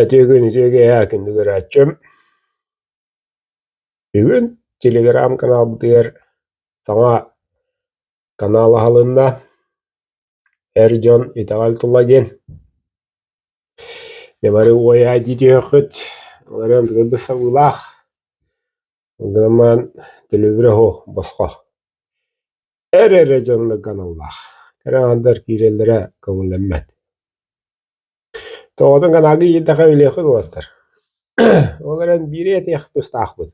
Итиэгин итиэги эһээ кинигэ көрөөччүм бүгүн телеграм-каналбытыгар саҥа канал аһылынна эр дьон итэҕэл тула диэн не бары уойа диэтиэххит ыларыан сабыылаах Гынан төлөбүрэ оһох босхо эр эрэ дьоннор гыналлаах кыраһындар киирэллэрэ көҥүллэммэт тоҕотун гынаага иирдэххэ өлүөххүн уолаттар ол эрэн биири этиэх тустаахпыт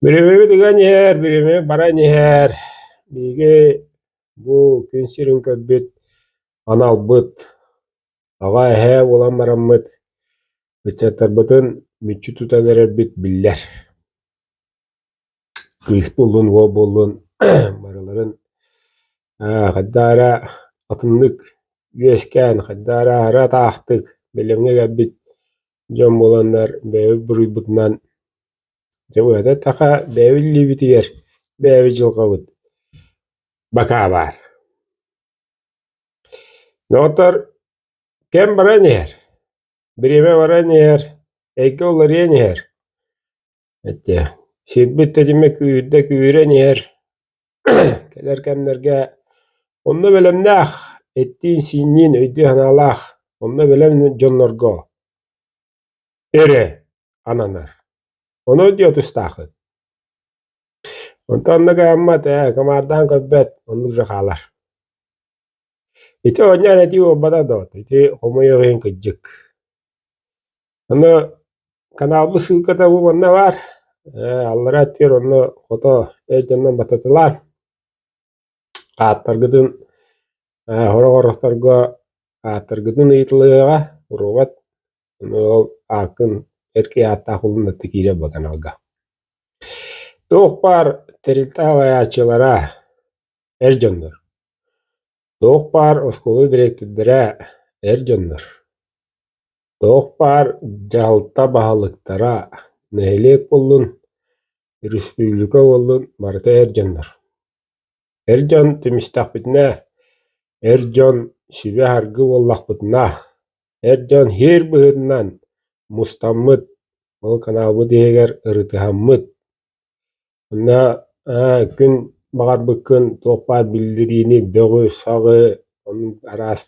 бүрүмүбүт ыган иһэр бүрүмүбүт баран иһэр биһиги бу күн сирин көрбүт аналбыт Аҕа эһээ буолан бараммыт, ыччаттарбытын мүччү тутан эрэрбит биллэр. Кыыс буоллун, уол буоллун барыларын аа, хайдаара атыннык үөскээн, хайдаара аһара атаахтык бэлэмҥэ кэлбит дьон буоланнар бэйэбит буруйбутунан дьэ быһата таха бэйэбит илиибитигэр бэйэбит дьылҕабыт бакаа баар. Доҕоттор, кэм баран иһэр, бириэмэ баран иһэр, эйгэ уларыйан иһэр. Эттэ, сирбит тэтимэ күүрдэ күүрэн иһэр. Кэлэр кэмнэргэ онно бэлэмнээх, эттиин-сиинниин өйдүү-санаалаах, онно бэлэм дьоннорго. эрэ ананар. Ону диэ тустаахыт. Онтон онно гаммат, ээ, командаhan көрбөт, оннук же хаалар. Ити оонньоон этии буолбата доо, ити хомойор иһин кыддьык. Ону каналбы ссылката бу манна бар, аллара аттыыр онно хото эл дьоннон бататылаан. Ааттаргытын сорох оҥоросторго ааттаргытын ыйытылыаҕа, уруубат, ону ааккын, эр киһи ааттаах ылыннарда киирэр буолан аҕалга. Туох баар тэрилтэ салайааччылара, эр дьоннор. Туох баар оскуола дириэктэрдэрэ, эр дьоннор. Туох баар дьаһалта баһылыктара, нэһилиэк буоллун, Республика уоллун барыта эр дьоннор. Эр дьон тимистэхпитинэ, эр дьон сүбэ-аргы буоллахпытына, эр дьон һиэр быһыытынан мустаммыт, ол каналбыт иһигэр ырытыһаммыт. Онно күн баҕарбыккын туох баар биллириини, бөҕү, саҕы, оннук араас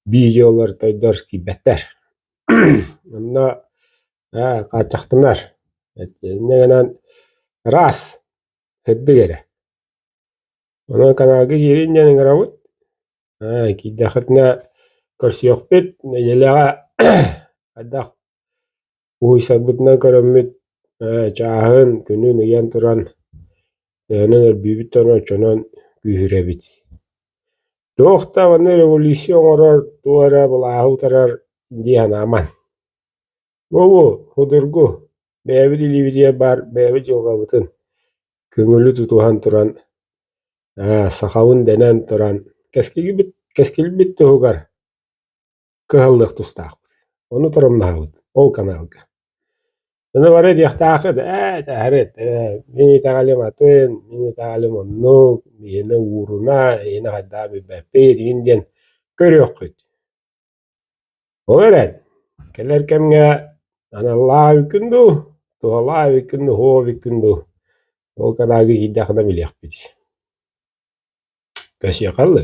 видеолар, тойдор киирбэттэр. Онно Аа, хааччахтынар. Итиннэ гынан раз, сырдык эрэ. Онон каналга киирин диэн ыҥырабыт. Аа, киирдэхитинэ көрсүөхпүт. Нэдиэлэҕэ хайдах уһуйсарбытынан көрөммүт ээ чааһын, күнүн ыйан туран төһөнөн өрбүүбүт да ону оччонон күүһүрэбит. Туох даҕаны революция оҥорор, туох эрэ былааһы утарар дии санааман. Бобу, судургу, бэйэбит илиибитигэр баар бэйэбит дьылҕабытын көҥүлү тутуһан туран, аа, сахабын дэнэн туран, кэскилбит кэскилбит туһугар кыһаллыах тустаахпыт. Ону торумнаһабыт ол каналга. Аны бары диэхтээхит, ээ, этэһэрит, э, мин итэҕэлим атын, мин итэҕэлим оннук, биһини ууруна, иһини хайдах билбэппит, иһин диэн көрүөххүт. Ол эрэн, кэлэр кэмҥэ аналлаах эбиккин дуу, туһалаах эбиккин дуу, оһуох эбиккин дуу, ол кадаага иһийдэххинэ билиэхпит кэсиэхэ дылы